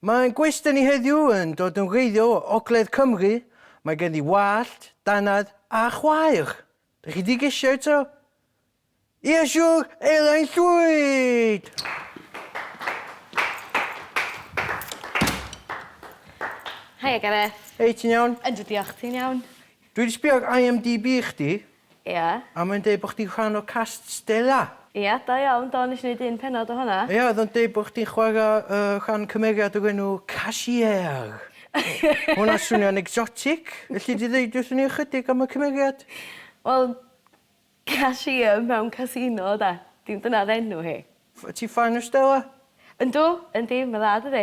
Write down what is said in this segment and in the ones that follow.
Mae ein gwestai ni heddiw yn dod yn wreiddiol o Ogledd Cymru, mae gen i wallt, dannedd a chwaer. Dych chi di gesio eto? Ia siwr, Elain Llwyd! Haia Gareth. Hei, ti'n iawn? Yndw diolch, ti'n iawn? Dwi di sbio ar IMDb chdi, Ia. A mae'n deud bod chdi'n rhan o cast Stella! Ia, da iawn, do, nes i neud un pennod o honna. Ia, oedd o'n deud bod chdi'n chwarae rhan cymeriad o'r enw Cashier! Mae hwnna'n swnio'n exotic! Elli di ddeud wrthyn ni ychydig am y cymeriad? Wel, cashier mewn casino, de. Dyna oedd enw hi. Ti'n ffan o Stella? Yndw, yndi, mae'n dda, dydi?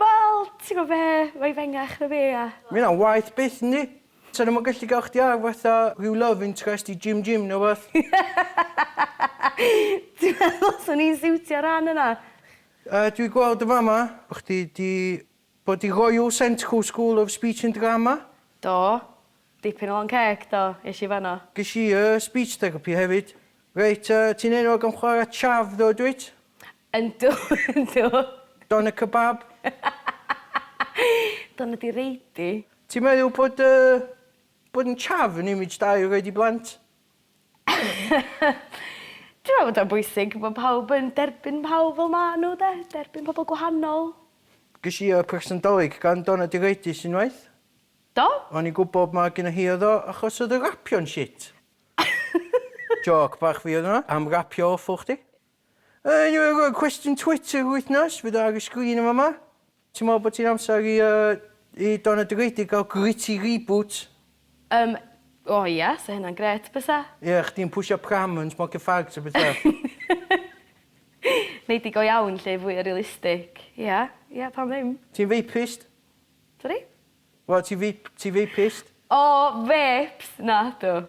Wel, ti gwbo be, mae 'i fengach na fi a... Ma' hynna'n waeth byth yndi? Sa nhw'm yn gallu ga'l chdi ar fatha rhyw love interest i Jim Jim ne' wbath? Ti'n meddwl swn i'n siwtio'r rhan yna? Yy dwi gweld yn fama bo' chdi 'di bod i Royal Central School of Speech and Drama. Do. Dipyn o lond ceg, do, esh i fanno. Gesh i yy speech therapy hefyd. Reit yy ti'n enwog am chwara' chav ddo dwyt? Yndw yndw. Doner kebab. Doner di reidi. Ti'n meddwl bod yy bod yn chav yn image da i'w roid i blant? Dwi'n meddwl bod o'n bwysig bod pawb yn derbyn pawb fel ma' nhw 'de? Derbyn pobl gwahanol. Ges i yy person Dolig gan Doner di reidi sy'n waeth. Do? O'n i'n gwybod ma' gynna hi oedd o achos oedd y rapio'n shit. Jôc bach fi oedd hwnna am rapio awful chdi. Yn ol y cwestiwn Twitter yr wythnos, fydd o ar y sgrin yn fama. Ti'n meddwl bod ti'n amser i yy i Don a Digwyddiad gael gritty reboot? Yym o ia 'sa hynna'n grêt bysa. Ie chdi'n pwsio pram yn smocio fags a petha. Nei di go iawn 'lly, fwya realistic. Ia ia pam ddim? Ti'n veipist? Sori? Wel ti veip- ti veipist? O vêps! Nadw.